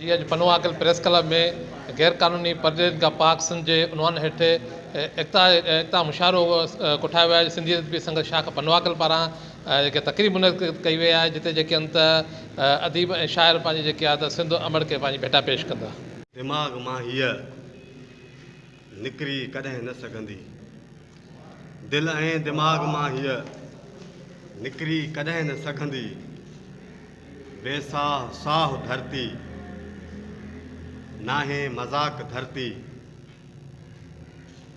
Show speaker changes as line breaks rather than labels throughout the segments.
جي اڄ پنواڪل پريس ڪلب ۾ غيرقانوني پرڏيهين کان پاڪ سنڌ جي عنوان هيٺ ايڪتا ايڪتا مشاعرو ڪوٺايو ويو آهي سنڌي ادبي سنگت شاخ پنواڪل پاران جيڪي تقريب منعقد ڪئي وئي آهي جتي جيڪي انت اديب ۽ شاعر پنهنجي جيڪي آهي ته سنڌ امڙ کي پنهنجي ڀيٽا پيش ڪندا دماغ مان
هيء نڪري ڪڏهن نه سگهندي. دل ۽ دماغ مان هيء نڪري ڪڏهن نه سگهندي. بي ساهه ساهه ڌرتي، ناهي مذاق ڌرتي.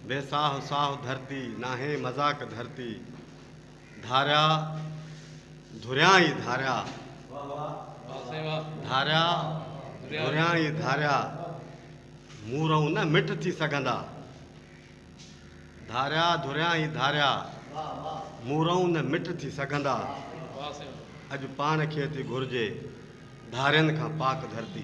بي ساهه ساهه ڌرتي، ناهي مذاق ڌرتي. ڌاريا ڌريان ئي ڌاريا. ڌاريا ڌريان ئي ڌاريا. مون رئون نه مٺ ٿي سگهندا. ڌاريا ڌريان ئي ڌاريا. مون رئون نه مٺ ٿي سگهندا. اڄ پاڻ کي ٿي گهرجي. ڌارين کان پاڪ ڌرتي.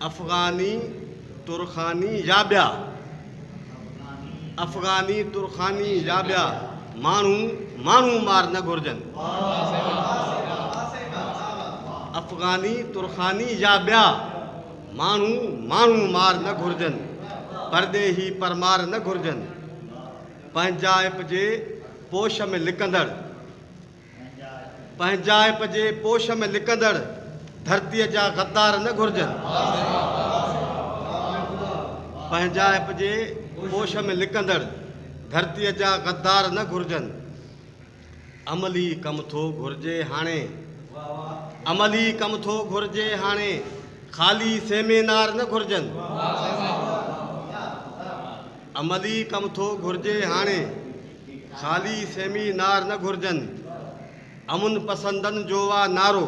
افغاني، ترخاني يا ٻيا افغاني، ترخاني يا ٻيا ماڻهو ماڻهو مار نه گهرجن. افغاني، ترخاني يا ٻيا ماڻهو ماڻهو مار نه گهرجن. پرڏيهي پرمار نه گهرجن. پنهنجائپ جي پوش ۾ لڪندڙ. پنهنجائپ جي پوش ۾ لڪندڙ ڌرتيء جا غدار نه گهرجن. پنهنجائپ جي پوش ۾ لڪندڙ ڌرتيء جا غدار نه گهرجن. عملي ڪم ٿو گهرجي هاڻي. عملي ڪم ٿو گهرجي هاڻي. خالي سيمينار نه گهرجن. عملي ڪم ٿو گهرجي هاڻي خالي سيمي نار نه گهرجن امن پسندن جو آ نعرو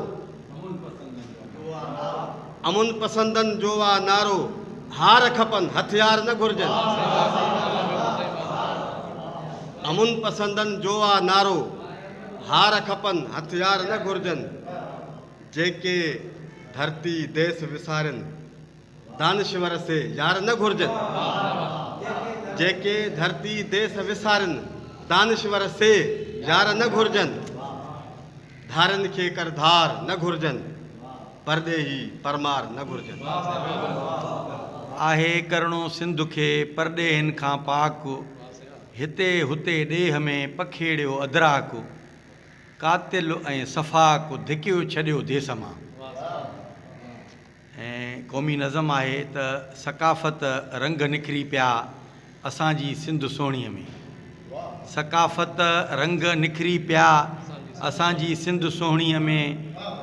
امن پسندن جو آ نعرو هار کپن هٿيار نه گهرجن امن پسندن جو آ نعرو هار کپن هٿيار نه گهرجن جيڪي ڌرتي ديس وسارين دانشور سي يار نه گهرجن، جيڪي ڌرتي ديس وسارين، دانشور سي يار نه گهرجن، ڌارين کي ڪر ڌار نه گهرجن، پرڏيهي پرمار نه گهرجن. آهي
ڪرڻو سنڌ کي پرڏيهين کان پاڪ، هتي هتي ڏيهه ۾ پکيڙيو ادراڪ، قاتل ۽ سفاڪ ڌڪيو ڇڏيو ديس مان. ۽ قومي نظم آهي ته ثقافت رنگ نکري پيا اسان جي سنڌ سهڻيء ۾. ثقافت رنگ نکري پيا اسان جي سنڌ سهڻيء ۾،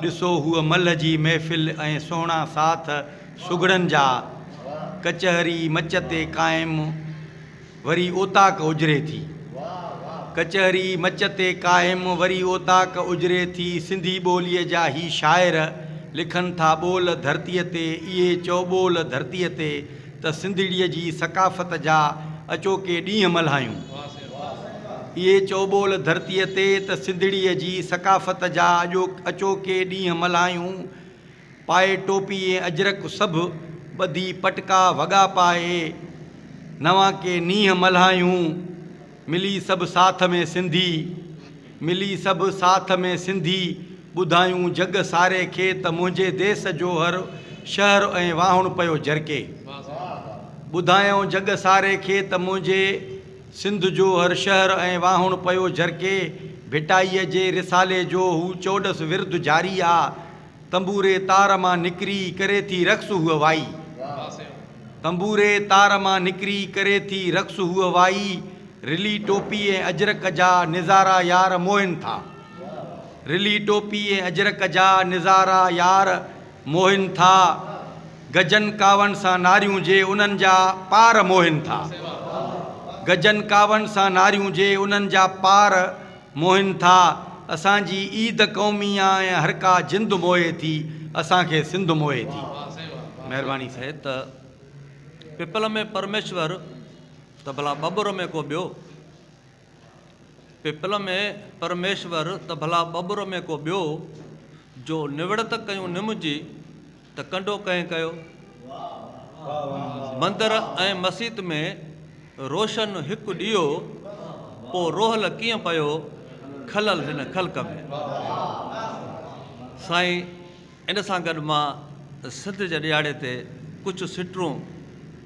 ڏسو هوء ملهه جي محفل ۽ سهڻا ساٿ سگهڙن جا، ڪچهري مچ تي قائم، وري اوطاق اجري ٿي. ڪچهري مچ تي قائم وري اوطاق اجري ٿي. سنڌي ٻوليء جا هي شاعر لکن ٿا ٻول ڌرتيء تي اهي چئو ٻول ڌرتيء تي ته سنڌڙيء جي ثقافت جا اچوڪي ڏينهن ملهايون اهي چئو ٻول ڌرتيء تي ته سنڌڙيء جي ثقافت جا اچوڪي ڏينهن ملهايون پائي ٽوپي ۽ اجرڪ سڀ ٻڌي پٽڪا وڳا پائي نوان ڪي نينهن ملهايون ملي سڀ ساٿ ۾ سنڌي ملي سڀ ساٿ ۾ سنڌي ٻڌايون جڳ ساري کي ته منهنجي ديس جو هر شهر ۽ واهڻ پيو جرڪي ٻڌايائون جڳ ساري کي ته منهنجي سنڌ جو هر شهر ۽ واهڻ پيو جرڪي ڀٽائيء جي رسالي جو هو چوڏس ورد جاري آ تنبوري تار مان نڪري ڪري ٿي رقص هوء وائي. تنبوري تار مان نڪري ڪري ٿي رقص هوء وائي. رلي ٽوپي ۽ اجرڪ جا نظارا يار موهن ٿا. رلي ٽوپي ۽ اجرڪ جا نظارا يار موهن ٿا. گجن ڪاون سان ناريون جي انهن جا پار موهن ٿا. گجن ڪاون سان ناريون جي انهن جا پار موهين ٿا، اسان جي عيد قومي آ ۽ هر ڪا جند موهي ٿي، اسان کي سنڌ موهي ٿي. مهرباني سائين. هي ته
پپل ۾ پرميشور ته ڀلا ٻٻر ۾ ڪو ٻيو. پپل ۾ پرميشور ته ڀلا ٻٻر ۾ ڪو ٻيو. جو نوڙت ڪيون نم جي، ته ڪنڊو ڪنهن ڪيو؟ مندر ۽ مسيت ۾ روشن هڪ ڏيئو، پوء روحل ڪيئن پيو کلل هن خلق ۾. سائين ان سان گڏ مان سنڌ جي ڏيهاڙي تي ڪجهه سٽرون.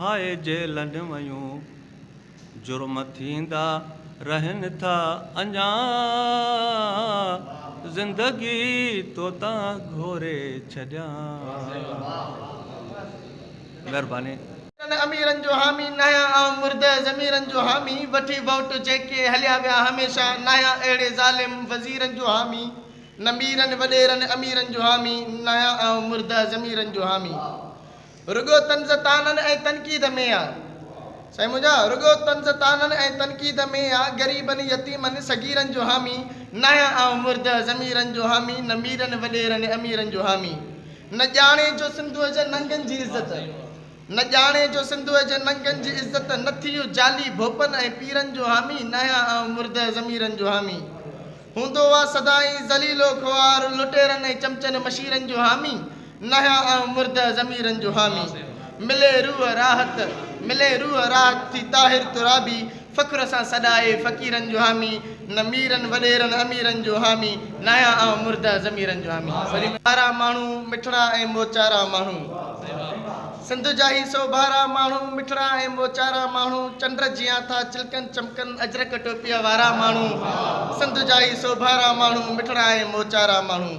هاء جيلن ويون جرم ٿيندا رهن ٿا اڃا زندگي توتان گهوري ڇڏيان. ڪن اميرن
جو حامي ناهيان آئون مرده ضميرن جو حامي وٺي ووٽ جيڪي هليا ويا هميشه ناهيان اهڙي ظالم وزيرن جو حامي نه ميرن وڏيرن اميرن جو حامي ناهيان آئون مرده ضميرن جو حامي رڳو طنز طعنن ۽ تنقيد ۾ آ سائين منهنجا رڳو طنز طعنن ۽ تنقيد ۾ آ غريبن يتيمن صغيرن جو حامي ناهيان آئون مرده ضميرن جو حامي نه ميرن وڏيرن اميرن جو حامي نه ڄاڻي جو سنڌوء جي ننگن جي عزت نه ڄاڻي جو سنڌوء جي ننگن جي عزت نه ٿيو جعلي ڀوپن ۽ پيرن جو حامي ناهيان آئون مرده ضميرن جو حامي هوندو آ سدائين ذليل و خوار لٽيرن ۽ چمچن مشيرن جو حامي ناهيان آئون مرده ضميرن جو حامي ملي روح راحت ملي روح راحت ٿي طاهر ترابي فخر سان سڏائي فقيرن جو حامي نه ميرن وڏيرن اميرن جو حامي ناهيان آئون مرده ضميرن جو حامي ٻارا ماڻهو مٺڙا ۽ موچارا ماڻهو. سنڌ جا هي سوڀارا ماڻهو، مٺڙا ۽ موچارا ماڻهو، چنڊ جيان ٿا چلڪن چمڪن، اجرڪ ٽوپيء وارا ماڻهو، سنڌ جا هي سوڀارا ماڻهو، مٺڙا ۽ موچارا ماڻهو.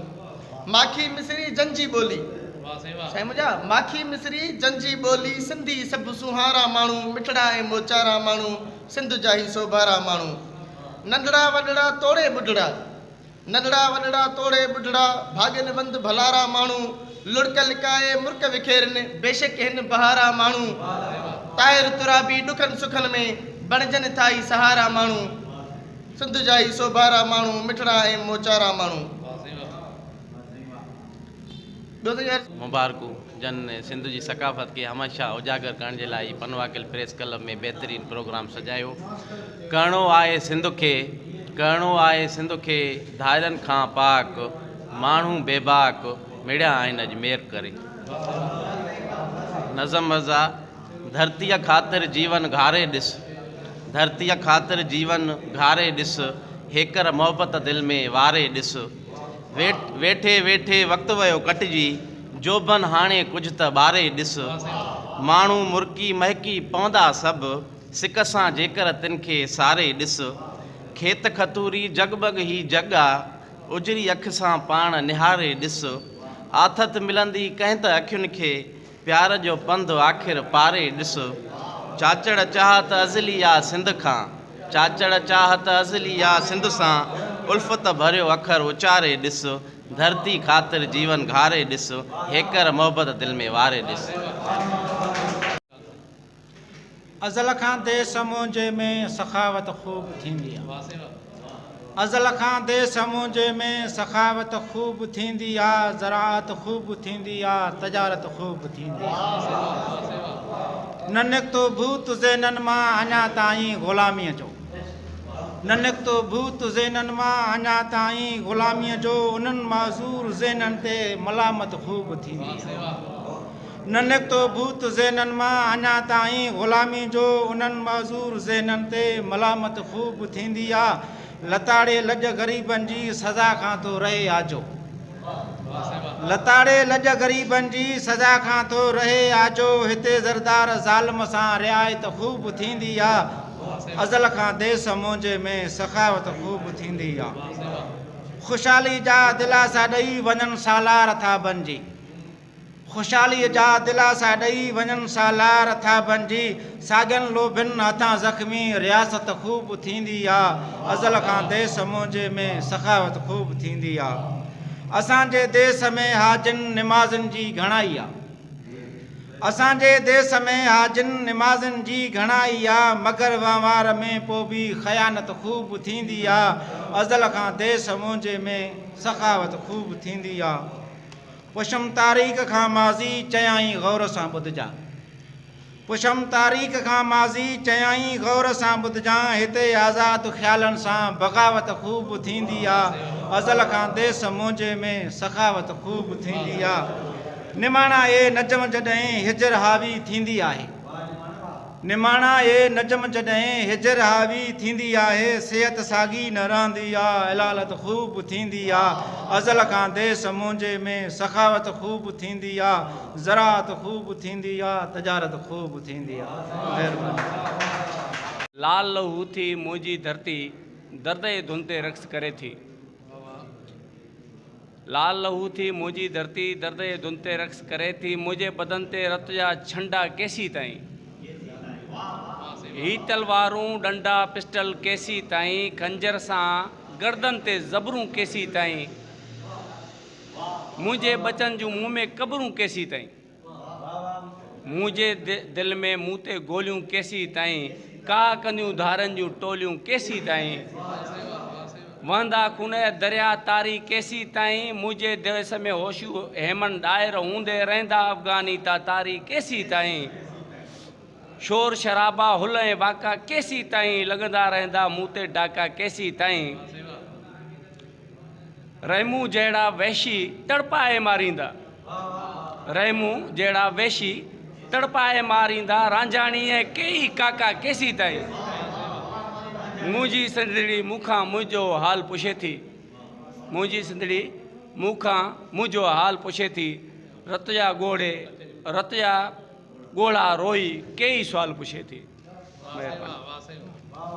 ماکي مصري جن جي ٻولي. سائين منهنجا ماکي مصري جن جي ٻولي، سنڌي سڀ سونهارا ماڻهو، مٺڙا ۽ موچارا ماڻهو، سنڌ جا هي سوڀارا ماڻهو. ننڍڙا وڏڙا توڙي ٻڍڙا. ننڍڙا وڏڙا توڙي ٻڍڙا، ڀاڳين وند ڀلارا ماڻهو، لڙڪ لڪائي مرڪ وکيرين، بيشڪ هن بهارا ماڻهو، طاهر ترابي ڏکن سکن ۾، بڻجن ٿا ئي سهارا ماڻهو، سنڌ جا ئي سوڀارا ماڻهو، مٺڙا ۽ موچارا ماڻهو.
مبارڪون جن سنڌ جي ثقافت کي هميشه اجاگر ڪرڻ جي لاء هي پنواڪل پريس ڪلب ۾ بهترين پروگرام سجايو ڪرڻو آهي سنڌ کي ڪرڻو آهي سنڌ کي ڌارين کان پاڪ ماڻهو بيباڪ مڙيا آهن اڄ مير ڪري نظم مرزا ڌرتي خاطر جيون گهاري ڏس ڌرتي خاطر جيون گهاري ڏس هيڪر محبت دل ۾ واري ڏس ويٺي ويٺي وقت ويو ڪٽجي، جوڀن هاڻي ڪجهه ته ٻاري ڏس. ماڻهو مرڪي مهڪي پوندا سڀ، سڪ سان جيڪر تن کي ساري ڏس. کيت کتوري جڳ ٻڳ هي جڳ آ، اجري اک سان پاڻ نهاري ڏس. آٿت ملندي ڪنهن ته اکين کي، پيار جو پنڌ آخر پاري ڏس. چاچڙ چاهت ازلي آ سنڌ کان. چاچڙ چاهت ازلي آ سنڌ سان. الفت ڀريو اکر اچاري ڏس. ڌرتي خاطر جيون گهاري ڏس. هيڪر محبت دل ۾ واري ڏس.
ازل کان ديس منهنجي ۾ سخاوت خوب ٿيندي آ ازل کان ديس منهنجي ۾ سخاوت خوب ٿيندي آ زراعت خوب ٿيندي آ تجارت خوب ٿيندي آ نه نڪتو ڀوت ذهنن مان اڃا تائين غلاميء جو نه نڪتو ڀوت ذهنن مان اڃا تائين غلاميء جو انهن معذور ذهنن تي ملامت خوب ٿيندي آ ننڪ تو بوت ذهنن مان اڃا تائين غلامي جو انهن معذور ذهنن تي ملامت خوب ٿيندي آ لتاڙي لڄ غريبن جي سزا کان ٿو رهي آجو لتاڙي لڄ غريبن جي سزا کان ٿو رهي آجو هتي زردار ظالم سان رعايت خوب ٿيندي آ ازل کان ديس مونجهي ۾ سخاوت خوب ٿيندي آ خوشحالي جا دلاسا ڏئي وڃن سالار ٿا بنجي خوشحاليء جا دلاسا ڏئي وڃن سالار ٿاڀن جي ساڳين لوڀين هٿان زخمي رياست خوب ٿيندي آ ازل کان ديس منهنجي ۾ سخاوت خوب ٿيندي آ اسان جي ديس ۾ حاجين نمازين جي گهڻائي آ اسان جي ديس ۾ حاجين نمازين جي گهڻائي آ مگر وهنوار ۾ پو به خيانت خوب ٿيندي آ ازل کان ديس منهنجي ۾ سخاوت خوب ٿيندي آ. پڇم تاريخ کان ماضي چيائين غور سان ٻڌجان پڇم تاريخ کان ماضي چيائين غور سان ٻڌجان هتي آزاد خيالن سان بغاوت خوب ٿيندي آ ازل کان ديس منهنجي ۾ سخاوت خوب ٿيندي آ نماڻا اي نجم جڏهن هجر حاوي ٿيندي آهي. نماڻا اي نجم جڏهن هجر حاوي ٿيندي آهي صحت ساڳي نه رهندي آ علالت خوب ٿيندي آ ازل کان ديس منهنجي ۾ سخاوت خوب ٿيندي آ زراعت خوب ٿيندي آ تجارت خوب ٿيندي آ مهرباني. لال لهو
ٿي منهنجي ڌرتي درد اي ڌن تي رقص ڪري ٿي. لال لهو ٿي منهنجي ڌرتي درد جي ڌن تي رقص ڪري ٿي منهنجي بدن تي رت جا ڇنڊا ڪيسي تائين هي تلوارون ڏنڊا پسٽل ڪيسي تائين خنجر سان گردن تي زبرون ڪيسي تائين منهنجي ٻچن جون مون ۾ قبرون ڪيسي تائين منهنجي دل ۾، مون تي گوليون ڪيسين تائين، ڪاهه ڪنديون ڌارن جون ٽوليون ڪيسين تائين، وهندا خون جا دريا تاري ڪيسين تائين، منهنجي ديس ۾ هوشو هيمن ڏاهر هوندي رهندا افغاني تاتاري ڪيسين تائين، شور شرابا هل ۽ واڪا ڪيسين تائين، لڳندا رهندا مون تي ڊاڪا ڪيسين تائين. رحمون جهڙا وحشي تڙپائي ماريندا، رحمون جهڙا وحشي تڙپائي ماريندا، رانجهاڻي ۽ ڪيئي ڪاڪا ڪيسيتائين، منهنجي سنڌڙي مون کان منهنجو حال پڇي ٿي، منهنجي سنڌڙي مون کان منهنجو حال پڇي ٿي، رت جا ڳوڙهي رت جا ڳوڙها روئي ڪيئي سوال پڇي ٿي. مهرباني.